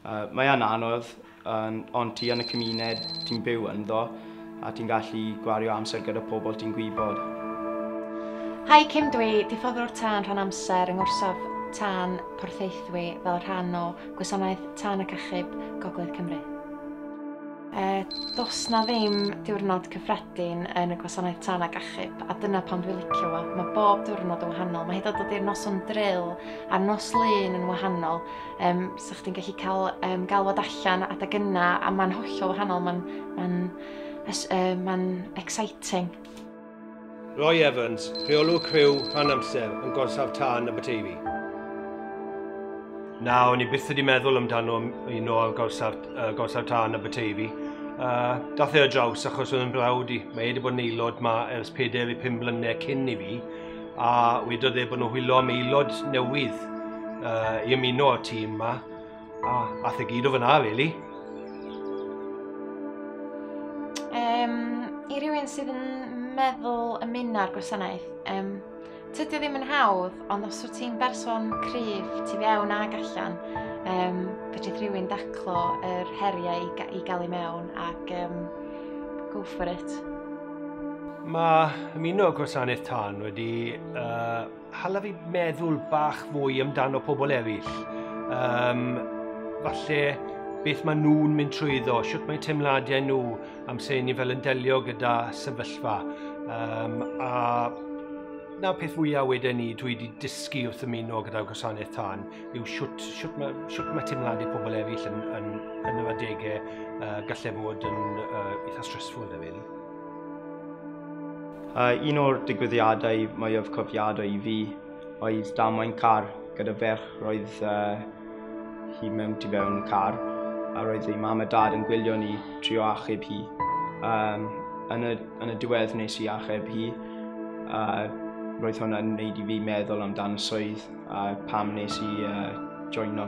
Mae yn anodd, ond ti yn y cymuned ti'n byw ynddo a ti'n gallu gwario amser gyda pobl ti'n gwybod. Hi Kim Dwi diffoddwr tân rhan amser yng ngorsaf tân Porthaethwy fel rhan o Gwasanaeth Tân ac Achub Gogledd Cymru. Does 'na ddim diwrnod cyffredin yn y gwasanaeth tân ac achub, a dyna pam dwi'n licio fo. Mae bob diwrnod yn wahanol. Mae hyd yn oed ydy'r noson drill a'r nos lun yn wahanol. Um, so chdi'n gallu cael um, galwad allan adeg yna, a mae'n hollol wahanol. Mae'n ma um, ma exciting. Roy Evans, rheolwr criw rhan amser yn gorsaf tân y Bateifi. Na, o'n i byth wedi meddwl amdano un o gorsaf, uh, gorsaf tân y Bateifi. Uh, dath e o draws achos oedd yn brawd i. Mae e wedi bod yn aelod ma ers 4 i 5 mlynedd cyn i fi a wedodd e bod nhw'n hwylo am aelod newydd uh, i ymuno o'r tîm yma. A, a the gyd o fyna, really. Um, I rywun sydd yn meddwl y muna'r gwasanaeth, um, tydy ddim yn hawdd, ond os wyt ti'n berson cryf, ti fewn ag allan, um, fedrith rhywun daclo yr heriau i, ga i gael ei mewn ac um, go for it. Mae ymuno gwasanaeth tân wedi uh, Hala fi meddwl bach fwy amdano pobl eraill. Um, falle beth maen nhw'n mynd trwyddo, sut mae teimladau nhw am se ni fel yn delio gyda sefyllfa. Um, a na peth fwyaf wedyn ni dwi wedi dysgu wrth ymuno gyda gwasanaeth tân yw sut, sut, mae, sut mae teimladau pobl eraill yn, yn, yn yr adegau uh, gallai fod yn uh, eitha stressful da fi. A un o'r digwyddiadau mwyaf cofiadau i fi oedd damwain car gyda ferch roedd uh, hi mewn tu fewn y car a roedd ei mam a dad yn gwylio ni trio achub hi. Um, yn, y, yn y diwedd nes i achub hi a roedd hwnna'n gwneud i fi meddwl amdan y swydd a pam nes i uh, joino.